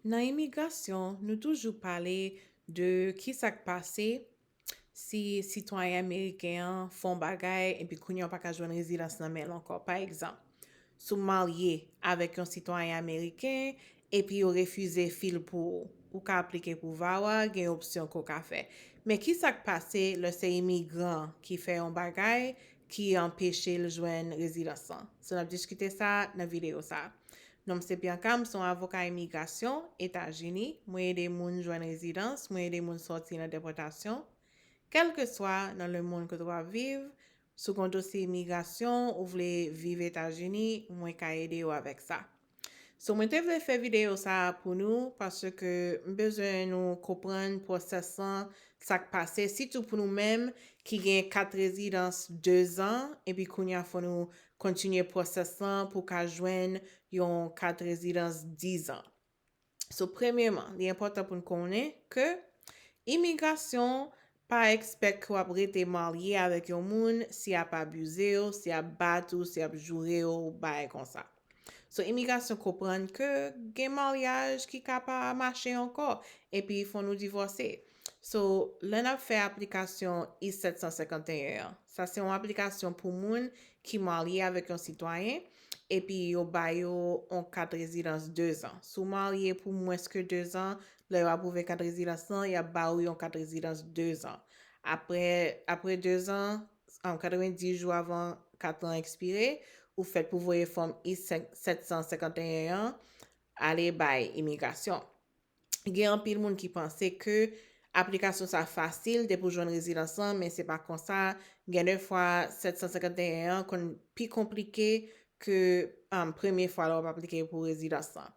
Nan imigrasyon, nou toujou pale de ki sa k pase si sitwayen ameriken an fè yon bagay epi kounye a w pa ka jwenn rezidans nan men l ankò. Pa egzanp, si w marye avèk yon sitwayen ameriken epi yo refize fi l pou ou, ou ka aplike pou VAWA, gen opsyon ke w ka fè. Men ki sa k pase lè se imigran ki fè yon bagay ki anpeche l jwenn rezidans lan? So n ap diskite sa nan videyo sa a. Non m se Bianca, m se yon avoka imigrasyon, Etazini, mwen ede moun jwenn rezidans, mwen ede moun sòti nan depòtasyon. Kèlkeswa nan lemonn kote w ap viv, si w gen yon dosye imigrasyon, ou vle viv Etazini, mwen ka ede ou avèk sa. So mwen te vle fè videyo sa pou nou paske m bezwen nou konprann pwosès lan, sa k pase, sitou pou nou menm ki gen kat rezidans dezan epi kounye a fò nou kontinye pwosès lan pou w ka jwenn yon kat rezidans 10 an. So premyeman, li enpòtan pou n konnen ke imigrasyon pa ekspèk ke w ap rete marye avèk yon moun si y ap abize w, si y ap bat ou, si y ap joure w, bagay konsa. So imigrasyon konprann ke gen maryaj ki ka pa mache ankò epi fò nou divòse. So, lè n ap fè aplikasyon I 751 an, sa se yon aplikasyon pou moun ki marye avèk yon sitwayen, epi yo ba yo yon kat rezidans dezan. Si w marye pou mwens ke dezan, lè yo apwouve kat rezidans lan, y ap ba ou yon kat rezidans dezan. Apre, apre dezan, 90 jou avan kat lan ekspire, ou fèt pou voye fòm I 751 an ale bay imigrasyon. gen anpil moun ki panse ke aplikasyon sa fasil depi ou jwenn rezidans lan men se pa konsa, gen de fwa 751 an konn pi konplike ke premye fwa lè wap aplike pou rezidans lan.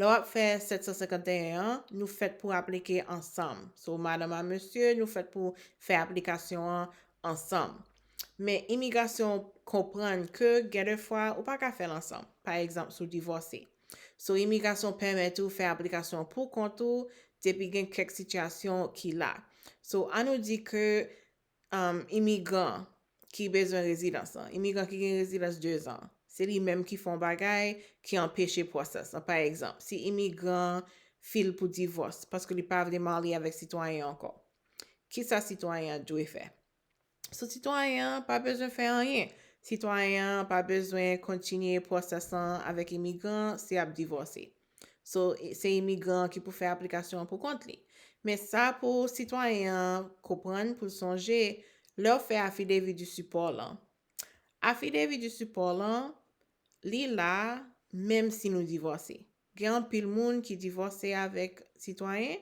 Lè wap fè 751 an, nou fèt pou aplike ansanm. So madanm a mesye, nou fèt pou fè aplikasyon an ansanm. Men imigrasyon konprann ke gen de fwa ou pa ka fèl ansanm. Pa egzanp si w divòse. So imigrasyon pèmèt ou fè aplikasyon an pou kont ou depi gen kèk sitiyasyon ki la. So an nou di ke imigran ki bezwen rezidans lan, imigran ki gen rezidans 2 zan, se li menm ki fè yon bagay ki anpeche pwosès lan. Pa egzanp, si imigran file pou divòs paske li pa vle marye avèk sitwayen ankò, kisa sitwayen an dwe fè? So sitwayen an pa bezwen fè anyen. Sitwayen an pa bezwen kontinye pwosès lan avèk imigran an si ap divòse. So se imigran an ki pou fè aplikasyon an pou kont li. Men sa pou sitwayen an konprann pou l sonje lè w fè afidevi di sipò lan. Afidevi di sipò lan li la menm si nou divòse. Gen anpil moun ki divòse avèk sitwayen,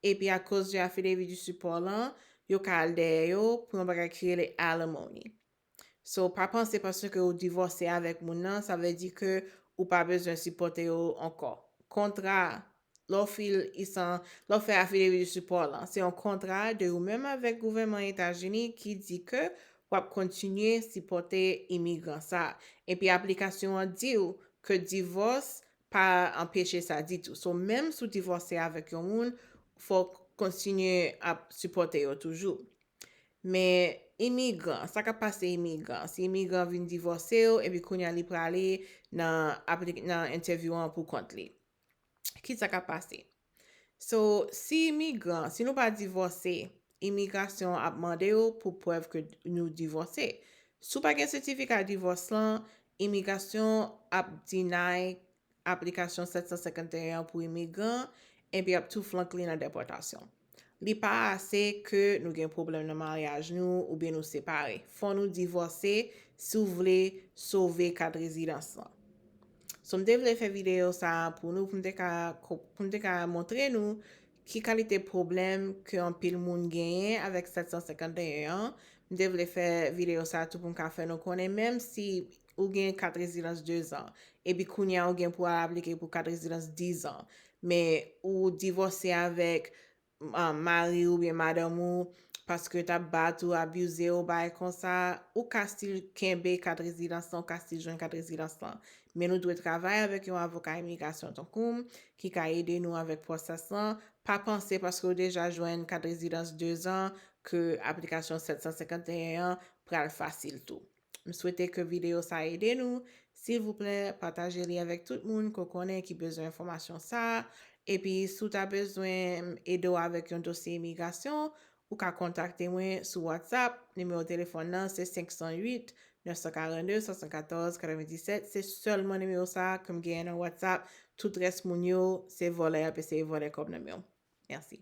epi akoz de affidavit du support lan, yo ka al dèyè yo pou yon bagay ki rele alimony. So, pa panse paske ou divòse avèk moun nan, sa vle di ke ou pa bezwen sipòte yo ankò. Kontra, lè w fil i san, lè w fè affidavit du support lan, se yon kontra de ou menm avèk gouvèman Etazini ki di ke W ap kontinye sipòte imigran sa. Epi aplikasyon an di w ke divòs pa anpeche sa ditou. So menm si w divòse avèk yon moun, fò w kontinye ap sipòte yo toujou. Men imigran, sa k ap pase imigran? Si imigran vin divòse w epi kounye a li prale nan entèvyou an pou kont li. ki sa k ap pase? So, si imigran, si nou pa divòse, imigrasyon an ap mande yo pou prèv ke nou divòse. Si w pa gen setifika divòs lan, imigrasyon ap deny aplikasyon 751 an pou imigran, epi y ap tou flank li nan depòtasyon. Li pa ase ke nou gen pwoblèm nan maryaj nou oubyen nou separe. Fò nou divòse si w vle sove kat rezidans lan. So m te vle fè videyo sa a pou nou pou m te ka pou m te ka montre nou ki kalite pwoblèm ke anpil moun genyen avèk 751 an. M te vle fè videyo sa a tou pou m ka fè nou konnen menm si ou gen kat rezidans 2 zan, epi kounye a ou gen pou al aplike pou kat rezidans 10 zan, men ou divòse avèk um, mari oubyen madanm ou, paske yo t ap bat ou, abize ou, bagay konsa, ou ka stil kenbe kat rezidans lan, ou ka stil jwenn kat rezidans lan. Men nou dwe travay avèk yon avoka imigrasyon tankou m, ki ka ede nou avèk pwosès lan, pa panse paske ou deja jwenn kat rezidans 2 zan ke aplikasyon 751 an pral fasil tou. M swete ke videyo sa ede nou. Silvouplè, pataje li avèk tout moun ke w konnen ki bezwen enfòmasyon sa a. Epi, si w ta bezwen m ede w avèk yon dosye imigrasyon, ou ka kontakte mwen sou WhatsApp. Nimewo telefòn nan se 508 942 74 97. Se sèlman nimewo sa a ke m genyen nan WhatsApp. Tout rès moun yo, se vòlè y ap eseye vòlè kòb nan men w. Mèsi.